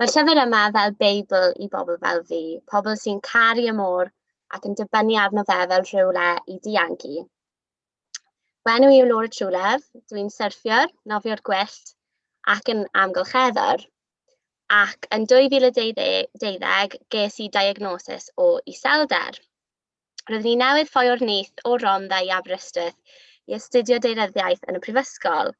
Mae'r llyfr yma fel Beibl i bobl fel fi, pobl sy'n caru y môr ac yn dibynnu arno fe fel rhywle i dianc i. Fy enw i yw Laura Trulef, dwi'n syrffiwr, nofio'r gwyllt ac yn amgylcheddwr. Ac yn 2012 ges i diagnosis o iselder. Roeddwn i newydd ffoi o'r nyth o Rondda i Aberystwyth i astudio deiryddiaeth yn y prifysgol.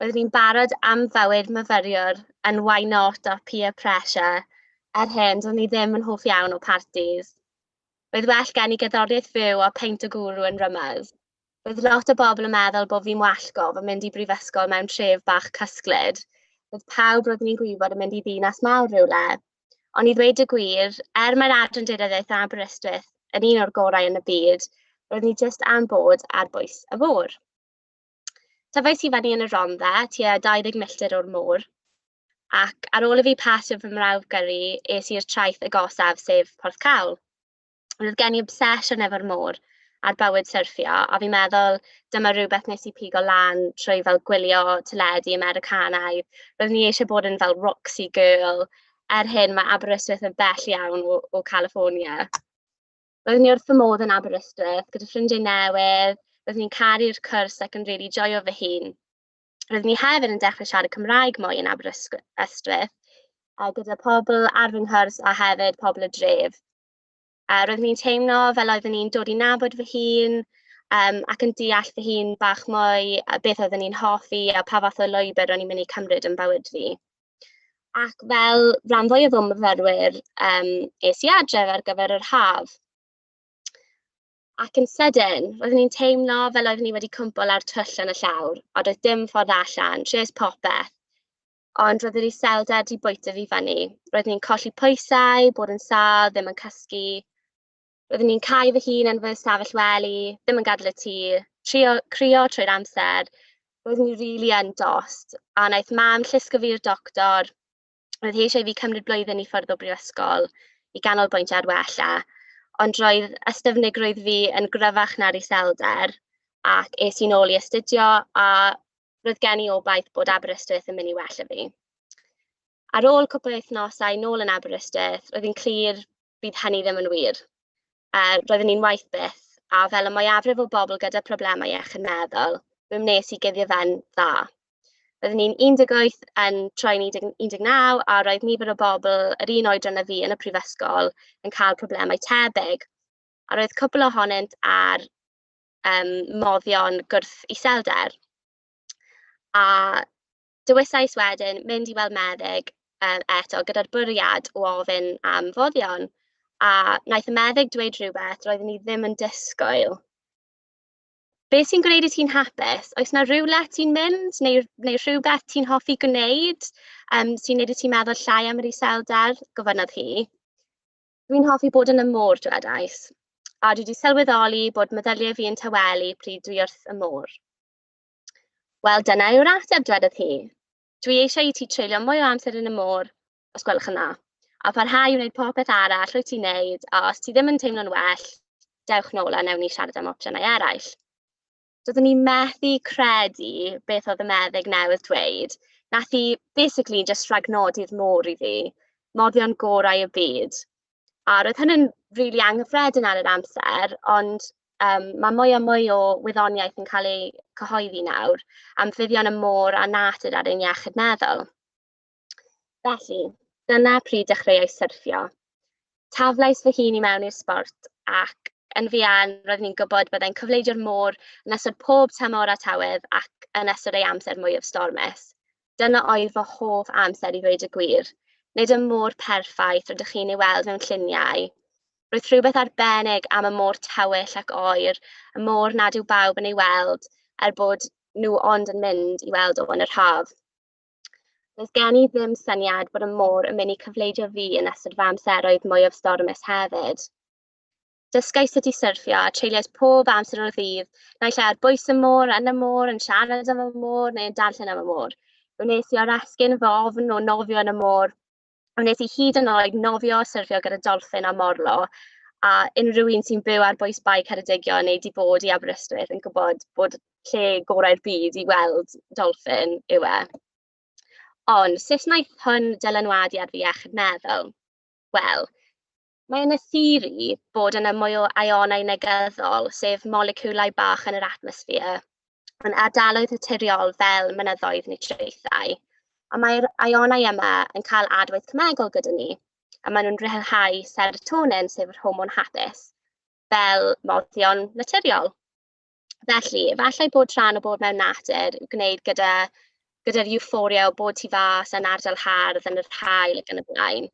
Roeddwn i'n barod am fywyd myfyriwr yn why not or peer pressure, er hyn, do'n i ddim yn hoff iawn o partis. Roedd well gen i gerddoriaeth fyw a peint o gwrw yn rymys. Roedd lot o bobl yn meddwl bod fi'n wallgo fy mynd i brifysgol mewn tref bach cysglyd. Roedd pawb roeddwn ni'n gwybod yn mynd i ddinas mawr rywle. Ond i ddweud y gwir, er mae'r Adran Deunyddiaeth yn Aberystwyth yn un o'r gorau yn y byd, roeddwn i jyst am bod ar bwys y fôr. Tyfais i fyny yn y Rhondda, tua 20 milltir o'r môr, ac ar ôl i fi pasio fy mrawf gyrru, es i'r traeth agosaf, sef Porth Cawl. Roedd gen i obsesiwn efo'r môr a'r bywyd syrffio, a fi'n meddwl dyma rhywbeth nes i pigo lan trwy fel gwylio teledu Americanaidd. Roeddwn ni eisiau bod yn fel Roxy Girl. Er hyn, mae Aberystwyth yn bell iawn o, o California. Roeddwn ni wrth fy modd yn Aberystwyth gyda ffrindiau newydd, roeddwn ni'n caru'r cwrs ac yn rili joio fy hun. Roeddwn ni hefyd yn dechrau siarad Cymraeg mwy yn Aberystwyth, a gyda pobl ar fy nghwrs a hefyd pobl y dref. A roeddwn ni'n teimlo fel oeddwn ni'n dod i nabod fy hun um, ac yn deall fy hun bach mwy a beth oeddwn ni'n hoffi a pa fath o lwybr o'n i'n mynd i cymryd yn bywyd fi. Ac fel rhan fwyaf o myfyrwyr, um, es i adref ar gyfer yr haf. Ac yn sydyn, roeddwn i'n teimlo fel oeddwn i wedi cwmpol ar twyll yn y llawr, a doedd dim ffordd allan, tries popeth. Ond roedd yr iselder wedi bwyta fi fyny. Roeddwn i'n colli pwysau, bod yn sâl, ddim yn cysgu, Roeddwn i'n cau fy hun yn fy ystafell wely, ddim yn gadael y tŷ, trio crio trwy'r amser. Roeddwn i rili yn dost, a wnaeth mam llusgo fi i'r doctor. Roedd hi eisiau i fi cymryd blwyddyn i ffwrdd o brifysgol i ganolbwyntio ar wella, ond roedd ystyfnigrwydd fi yn gryfach na'r iselder, ac es i'n ôl i astudio, a roedd gen i obaith bod Aberystwyth yn mynd i wella fi. Ar ôl cwpl o wythnosau nôl yn Aberystwyth, roedd hi'n clir fydd hynny ddim yn wir. Yy roeddwn i'n waeth byth, a fel y mwyafrif o bobl gyda phroblemau iechyd meddwl, mi wnes i guddio fe'n dda. Roeddwn i'n 18 yn troi'n 10 19 a roedd nifer o bobl yr un oedran â fi yn y prifysgol yn cael problemau tebyg, a roedd cwpl ohonynt ar yym moddion gwrth iselder. A Dewisais wedyn mynd i weld meddyg yym eto gyda'r bwriad o ofyn am foddion, a wnaeth y meddyg dweud rhywbeth roeddwn i ddim yn disgwyl. Be sy'n gwneud i ti'n hapus? Oes 'na rywle ti'n mynd neu neu rhywbeth ti'n hoffi gwneud, yym, sy'n neud i ti meddwl llai am yr iselder? gofynnodd hi. Dwi'n hoffi bod yn y môr, dwedais, a dwi wedi sylweddoli bod meddyliau fi yn tawelu pryd dwi wrth y môr. Wel, dyna yw'r ateb, dwedodd hi. Dwi eisiau i ti treulio mwy o amser yn y môr, os gwelwch yn dda, a pharhau i wneud popeth arall rwyt ti'n neud, a os ti ddim yn teimlo'n well, dewch nôl a newn ni siarad am opsiynau eraill. Doeddwn i methu credu beth oedd y meddyg newydd dweud. Nath hi basically just rhagnodi'r môr i fi. Moddion gorau y byd. A roedd hynny'n rili anghyffredin ar yr amser, ond yym ma' mwy a mwy o wyddoniaeth yn cael ei cyhoeddi nawr am fuddion y môr a natur ar ein iechyd meddwl. Felly, dyna pryd dechreuais syrffio. Taflais fy hun i mewn i'r sbort ac yn fuan roeddwn i'n gwybod byddai'n cyfleidio'r môr yn ystod pob tymor a tywydd ac yn ystod ei amser mwyaf stormus. Dyna oedd fy hoff amser i ddweud y gwir. Nid y môr perffaith rydych chi'n ei weld mewn lluniau. Roedd rhywbeth arbennig am y môr tywyll ac oer, y môr nad yw bawb yn ei weld, er bod nhw ond yn mynd i weld o yn yr haf. Does gen i ddim syniad bod y môr yn mynd i cyfleidio fi yn ystod fy amseroedd mwyaf stormus hefyd. Dysgai sut i syrffio a treuliais pob amser o'r ddydd, naill ai ar bwys y môr, yn y môr, yn siarad am y môr neu yn darllen am y môr. Wnes i oresgyn fy ofn o nofio yn y môr. Wnes i hyd yn oed nofio a syrffio gyda dolffin a morlo, a unrhyw un sy'n byw ar bwys Bae Ceredigion neu 'di bod i Aberystwyth yn gwybod bod lle gorau'r byd i weld dolffin yw e. Ond sut wnaeth hwn dylanwadu ar fy iechyd meddwl? Wel, Mae yna theori bod yna mwy o aïonau negyddol, sef moleciwlau bach yn yr atmosffer, yn ardaloedd naturiol fel mynyddoedd neu traethau. Ond mae'r aïonau yma yn cael adwaith cemegol gyda ni, a maen nhw'n rhyddhau serotonin, sef yr hormon hapus, fel moddion naturiol. Felly, efallai bod rhan o bod mewn natur yn gwneud gyda gyda'r euphoria o bod tu fas yn ardal hardd yn yr haul ac yn y blaen.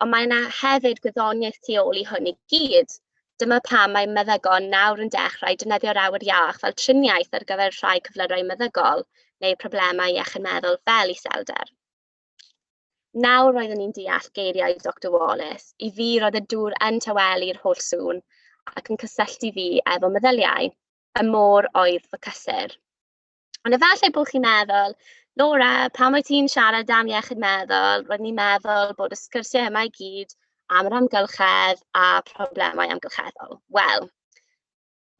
Ond mae yna hefyd gwyddoniaeth tu ôl i hwn i gyd. Dyma pam mae meddygon nawr yn dechrau defnyddio'r awyr iach fel triniaeth ar gyfer rhai cyflyrau meddygol neu problemau iechyd meddwl fel iselder. Nawr roeddwn i'n deall geiriau Doctor Wallace. I fi, roedd y dŵr yn tawelu'r holl sŵn ac yn cysylltu fi efo meddyliau. Y môr oedd fy cysur. Ond efallai bod chi'n meddwl, Laura, pam wyt ti'n siarad am iechyd meddwl? Roedd ni'n meddwl bod y sgyrsiau yma i gyd am yr amgylchedd a problemau amgylcheddol. Wel,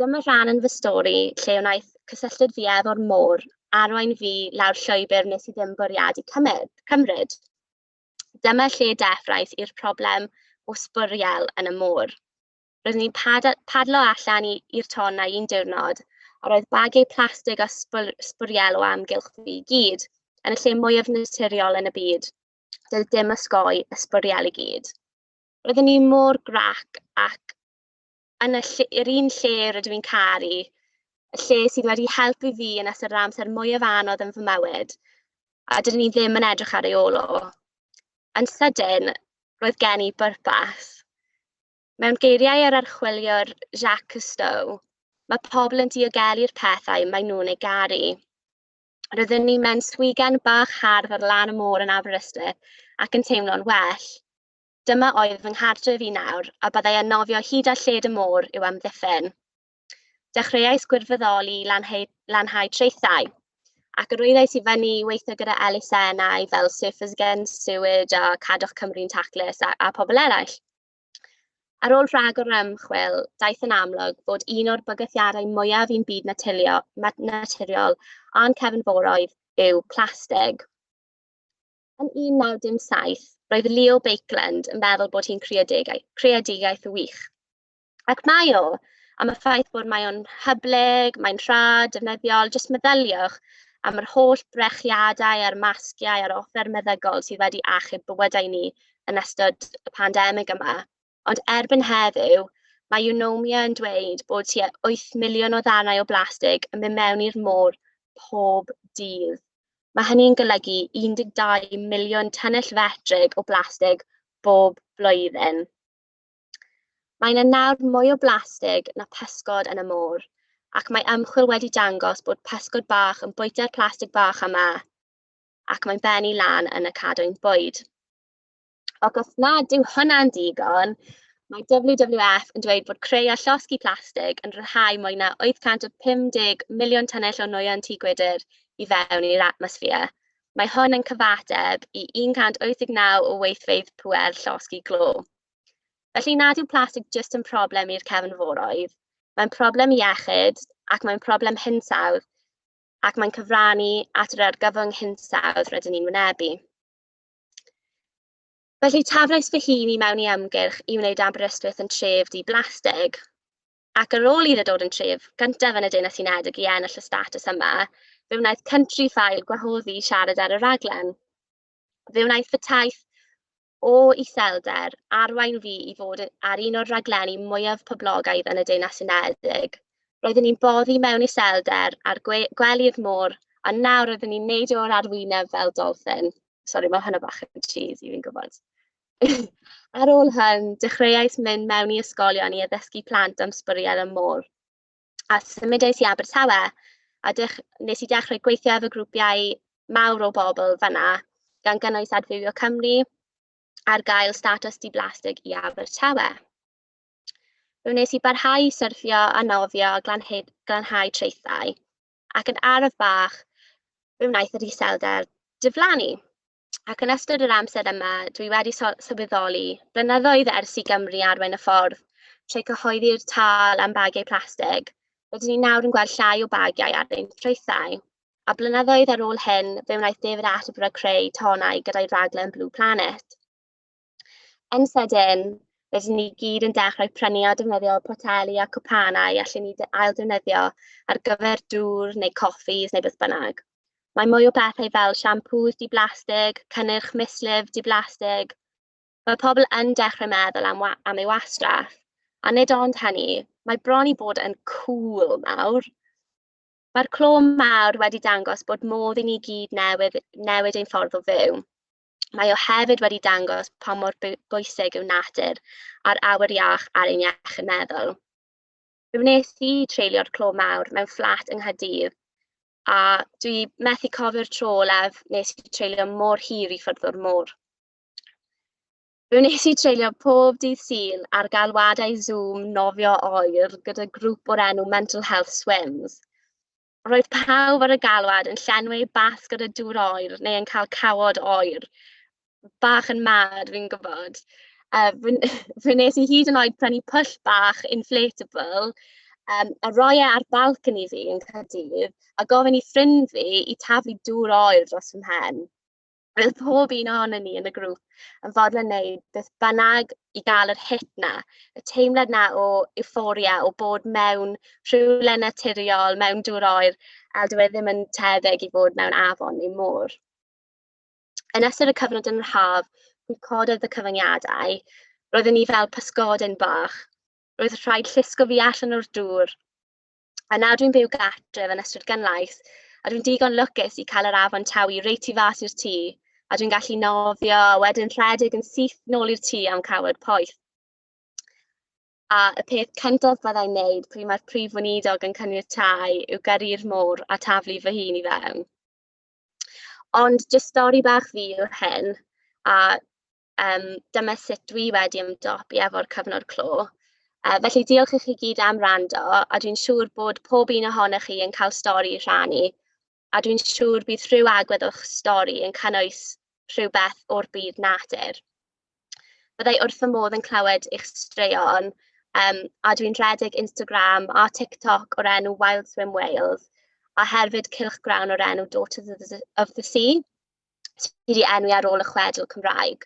Dyma rhan yn fy stori lle wnaeth cysylltiad fi efo'r môr arwain fi lawr llwybr nes i ddim bwriadu cymryd. cymryd. Dyma lle deffrais i'r problem o sbwriel yn y môr. Roeddwn i'n pad padlo allan i'r tonnau un diwrnod, a roedd bagiau plastig a sbwr sbwriel o amgylch fi i gyd, yn y lle mwyaf naturiol yn y byd. Doedd dim ysgoi y sbwriel i gyd. Roeddwn i mor grac ac yn y ll- yr un lle rydw i'n caru, y lle sydd wedi helpu fi yn ystod yr amser mwyaf anodd yn fy mywyd, a dydyn ni ddim yn edrych ar ei ôl o. Yn sydyn, roedd gen i bwrpas. Mewn geiriau yr archwiliwr Jacques Cousteau, mae pobl yn diogelu'r pethau maen nhw'n ei garu. Roedden ni mewn swigan bach hardd ar lan y môr yn Aberystwyth ac yn teimlo'n well. Dyma oedd fy nghartref i nawr, a byddai yn nofio hyd at lled y môr i'w amddiffyn. Dechreuais gwirfoddoli i lanhau, lanhau traethau, ac yr oeddais i fyny i weithio gyda elusennau fel Surfers Against Sewage a Cadwch Cymru'n Taclus a, a pobl eraill. Ar ôl rhag o'r ymchwil, daeth yn amlwg fod un o'r bygythiadau mwyaf i'n byd naturiol, naturiol a'n cefnforoedd yw plastig. Yn 1917, roedd Leo Baekeland yn meddwl bod hi'n creadigaeth, creadigaeth wych. Ac mae o, am y ffaith bod mae o'n hyblyg, mae'n rhad, defnyddiol, jyst meddyliwch am yr holl brechiadau a'r masgiau a'r offer meddygol sydd wedi achub bywydau ni yn ystod y pandemig yma. ond erbyn heddiw mae Eunomia yn dweud bod tua wyth miliwn o ddarnau o blastig yn mynd mewn i'r môr pob dydd. Mae hynny'n golygu 12 miliwn tynnell fetrig o blastig bob blwyddyn. Mae yna nawr mwy o blastig na pysgod yn y môr, ac mae ymchwil wedi dangos bod pysgod bach yn bwyta'r plastig bach yma ac mae'n bennu lan yn y cadwyn bwyd. Ac os nad yw hwnna'n digon, mae WWF yn dweud bod creu a llosgi plastig yn rhyddhau mwy na 850 miliwn tynnell o nwyon tŷ gwydr i fewn i'r atmosffer. Mae hwn yn cyfateb i 189 o weithfeydd pŵer llosgi glo. Felly nad yw plastig jyst yn problem i'r cefnforoedd, mae'n problem iechyd ac mae'n problem hinsawdd ac mae'n cyfrannu at yr argyfwng hinsawdd rydyn ni'n wynebu. Felly, taflais fy hun i mewn i ymgyrch i wneud Aberystwyth yn tref di-blastig. Ac ar ôl iddo dod yn tref gyntaf yn y Deyrnas Unedig i ennill y statws yma, fe wnaeth Countryfile gwahoddi i siarad ar y rhaglen. Fe wnaeth fy taith o iselder arwain fi i fod ar un o'r rhaglenni mwyaf poblogaidd yn y Deyrnas Unedig. Roeddwn i'n boddi mewn iselder ar gwe gwely'r môr, a nawr roeddwn i'n neidio o'r arwyneb fel dolffin. Sori, mae hwnna bach yn cheesy, fi'n gwybod. Ar ôl hyn, dechreuais mynd mewn i ysgolion i addysgu plant am sbwriel y môr, a symudiais i Abertawe, a dech- wnes i dechrau gweithio efo grwpiau mawr o bobl fan'na, gan gynnwys Adfywio Cymru, ar gael statws di-blastig i Abertawe. Fe wnes i barhau i syrthio a nofio a glanhau, glanhau traethau, ac yn araf bach, fe wnaeth yr iselder diflannu. Ac yn ystod yr amser yma, dwi wedi sylweddoli, blynyddoedd ers i Gymru arwain y ffordd trwy cyhoeddi'r tal am bagiau plastig, rydyn ni nawr yn gweld llai o bagiau ar ein traethau. A blynyddoedd ar ôl hyn, fe wnaeth David Attenborough creu tonau gyda'i raglen Blue Planet. Yn sydyn, rydyn ni gyd yn dechrau prynu a defnyddio poteli a cwpanau allen ni ail-ddefnyddio ar gyfer dŵr neu coffis neu beth bynnag. Mae mwy o bethau fel siampŵs di-blastig, cynnyrch mislif di-blastig. Mae pobl yn dechrau meddwl am, am ei wastraff. A nid ond hynny, mae bron i bod yn cŵl nawr. Mae'r clo mawr wedi dangos bod modd i ni gyd newid, newid ein ffordd o fyw. Mae o hefyd wedi dangos pa mor bwysig yw natur a'r awyr iach ar ein iechyd meddwl. Fe wnes i treulio'r clo mawr mewn fflat yng Nghaerdydd a dwi methu cofio'r tro olaf nes i treulio mor hir i ffwrdd o'r môr. Fe wnes i treulio pob dydd Sul ar galwadau Zoom nofio oer gyda grŵp o'r enw Mental Health Swims. Roedd pawb ar y galwad yn llenwi eu basg ar y dŵr oer neu yn cael cawod oer, bach yn mad fi'n gwybod. A wi fe wnes i hyd yn oed prynu pwll bach inflatable, yym, a roi e ar balcony fi yn Caerdydd, a gofyn i ffrind fi i taflu dŵr oer dros fy mhen. Bydd pob un ohonon ni yn y grŵp yn fodlon wneud beth bynnag i gael yr hit 'na, y teimlad 'na o euphoria, o bod mewn rhywle naturiol, mewn dŵr oer, a dyw e ddim yn tebyg i fod mewn afon neu môr. Yn ystod y cyfnod yn yr haf, mi cododd y cyfyngiadau. Roedden ni fel pysgodyn bach. Roedd rhaid llusgo fi allan o'r dŵr A nawr dwi'n byw gartref yn Ystrad Gynlaith, a dwi'n digon lwcus i cael yr afon Tawy reit tu fas i'r tŷ, a dwi'n gallu nofio a wedyn rhedeg yn syth nôl i'r tŷ am cawod poeth. A y peth cyntaf byddai'n wneud pryd mae'r prif weinidog yn caniatáu yw gyrru'r môr a taflu fy hun i fewn. Ond jyst stori bach fi yw hyn, a Yym, dyma sut dwi wedi ymdopi efo'r cyfnod clo. Yy, felly diolch i chi i gyd am wrando, a dwi'n siŵr bod pob un ohonoch chi yn cael stori i rhannu, a dwi'n siŵr bydd rhyw agwedd o'ch stori yn cynnwys rhywbeth o'r byd natur. Byddai wrth fy modd yn clywed eich straeon, um, a dwi'n rhedeg Instagram a TikTok o'r enw Wild Swim Wales, a herfyd cylchgrawn o'r enw Daughters of the Sea. sydd wedi enwi ar ôl y chwedl Cymraeg.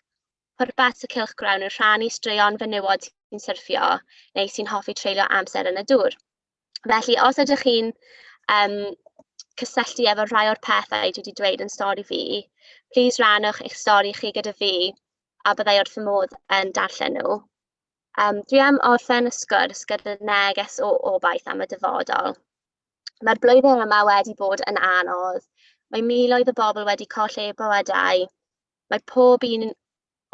Pwrpas y cylchgrawn yw rhannu straeon fenywod sy'n syrffio neu sy'n hoffi treulio amser yn y dŵr. Felly, os ydych chi'n um, cysylltu efo rhai o'r pethau dwi wedi dweud yn stori fi, plis rannwch eich stori chi gyda fi a byddai wrth fy modd yn darllen nhw. Um, dwi am orffen y sgwrs gyda neges o obaith am y dyfodol. Mae'r blwyddyn yma wedi bod yn anodd. Mae miloedd o bobl wedi colli eu bywydau. Mae pob un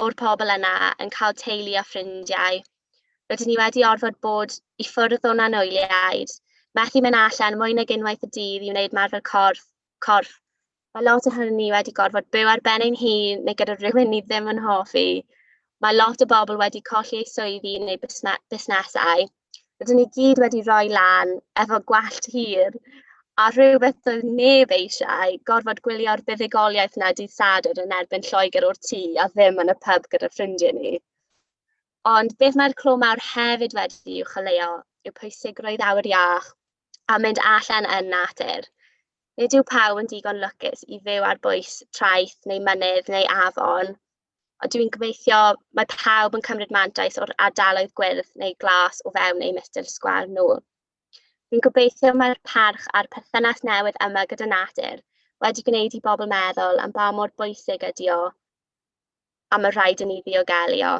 o'r pobl yna yn cael teulu a ffrindiau. Rydyn ni wedi orfod bod i ffwrdd o'n anwyliaid, methu mynd allan mwy nag unwaith y dydd i wneud ymarfer corff corff Ma' lot ohonon ni wedi gorfod byw ar ben ein hun neu gyda rywun ni ddim yn hoffi. Ma' lot o bobl wedi colli eu swyddi neu busne- busnesau. Rydyn ni gyd wedi rhoi lan efo gwallt hir, a rhywbeth doedd neb eisiau, gorfod gwylio'r buddugoliaeth 'na dydd Sadwrn yn erbyn Lloegr o'r tŷ a ddim yn y pub gyda ffrindiau ni. Ond beth mae'r clo mawr hefyd wedi i'w choleuo yw pwysigrwydd awyr iach, a mynd allan yn natur. Nid yw pawb yn digon lwcus i fyw ar bwys traeth neu mynydd neu afon, ond dwi'n gobeithio mae pawb yn cymryd mantais o'r ardaloedd gwyrdd neu glas o fewn eu milltir sgwâr nhw. Dwi'n gobeithio mae'r parch a'r perthynas newydd yma gyda natur wedi gwneud i bobl meddwl am ba mor bwysig ydy o a mae rhaid i ni ddiogelio.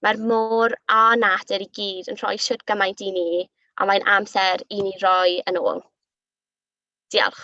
Mae'r môr a natur i gyd yn rhoi siwt gymaint i ni, a mae'n amser i ni roi yn ôl. Diolch.